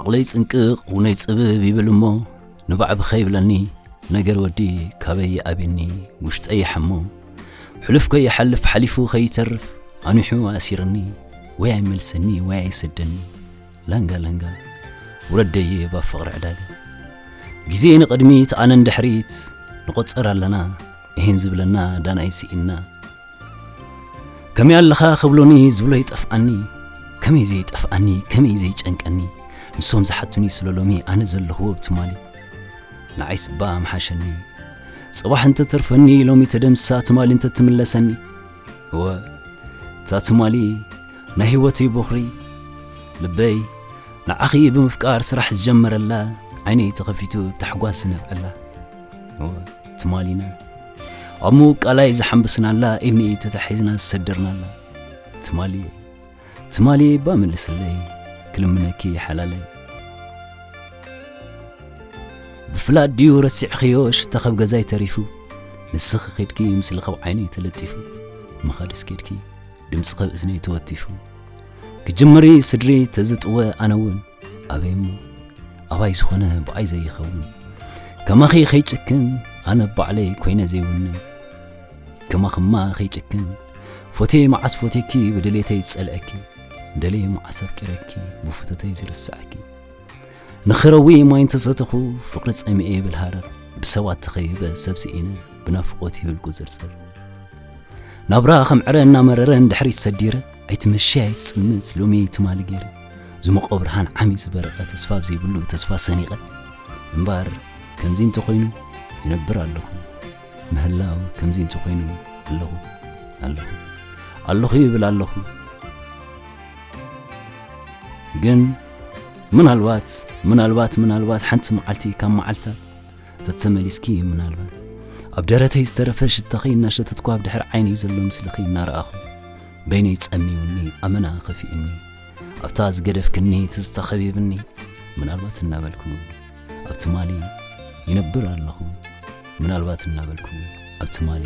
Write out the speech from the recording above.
ዓቕለይ ጽንቅቕ ውነይ ጽብብ ይብል እሞ ንባዕቢ ኸይብለኒ ነገር ወዲ ካበይ ይኣብኒ ውሽጠ ይሓሞ ሕሉፍ ከይሓልፍ ሓሊፉ ኸይተርፍ ኣኒሑ ኣሲርኒ ወይ ኣይመልሰኒ ወይ ኣይሰደኒ ለንገ ለንገ ውረደይ እባ ፍቕሪ ዕዳጋ ግዜ ንቕድሚት ኣነ ንድሕሪት ንቖጽር ኣለና እሂን ዝብለና ዳናይ ስኢንና ከመይ ኣለኻ ክብሉኒ ዝብሎ ይጠፍኣኒ ከመይ ዘይጠፍኣኒ ከመይ ዘይጨንቀኒ ንሶም ዝሓቱኒ ስለ ሎሚ ኣነ ዘለኽዎ ብትማሊ ንዓይ ስባ ምሓሸኒ ጽባሕ እንተተርፈኒ ሎሚ ተደምሳ ትማሊ እንተትምለሰኒ እወ እታ ትማሊ ናይ ህይወትይ ቦኽሪ ልበይ ንዓኺ ብምፍቃር ስራሕ ዝጀመረላ ዓይነይ ተኸፊቱ ታሕጓስ ዝነብዐላ ትማሊና ኣብ ምውቃላይ ዝሓንብስናላ ኢኒ ተታሒዝና ዝሰደርናላ ትማሊ ትማሊ ባ መልስለይ ክልምነኪ ሓላለይ ብፍላጥ ድዩ ረሲዕኽዮ ሽታ ኸብ ገዛይ ተሪፉ ንስኺ ኺድኪ ምስሊ ኸብ ዓይነይ ተለጢፉ መኻድስ ኬድኪ ድምፂ ኸብ እዝነይ ተወቲፉ ክጅምሪ ስድሪ ተዝጥወ ኣነውን ኣበይ እሞ ኣባይ ዝኾነ ብኣይ ዘይኸውን ከማኺ ኸይጭክን ኣነ ባዕለይ ኮይነ ዘይውንን ከማኽማ ኸይጭክን ፎቴ መዓስ ፎቴኪ ብድሌተይ ዝጸልአኪ ደለየ መዓስ ኣፍቂረኪ ብፍቶተይ ዝርስዐኪ ንኽረዊ ማይ እንተሰተኹ ፍቕሪ ጸሚኤ ይብል ሃረር ብሰባት ተኸቢበ ሰብ ስኢነ ብናፍቖት ይብል ቁጽርጽር ናብራ ከም ዕረ እናመረረ እንድሕሪት ሰዲረ ኣይትመሽይ ኣይትጽልምት ሎሚ ትማሊ ገይረ ዝሞቐ ብርሃን ዓሚ ዝበረቐ ተስፋ ኣብ ዘይብሉ ተስፋ ሰኒቐ እምበር ከምዚ እንተኾይኑ ይነብር ኣለኹ ምህላው ከምዚ እንተኾይኑ ኣለኹ ኣለኹ ኣለኹ ይብል ኣለኹ ግን ምናልባት ምናልባት ምናልባት ሓንቲ መዓልቲ ካብ መዓልታት ተተመሊስኪ ምናልባት ኣብ ደረተይ ዝተረፈ ሽታኺ እናሸተትኩ ኣብ ድሕር ዓይነይ ዘሎ ምስልኺ እናረኣኹ በይነይ ጸሚውኒ ኣመና ኸፊእኒ ኣብታ ዝገደፍክኒ ትዝታ ኸቢብኒ ምናልባት እናበልኩ ኣብ ትማሊ ይነብር ኣለኹ ምናልባት እናበልኩ ኣብ ትማሊ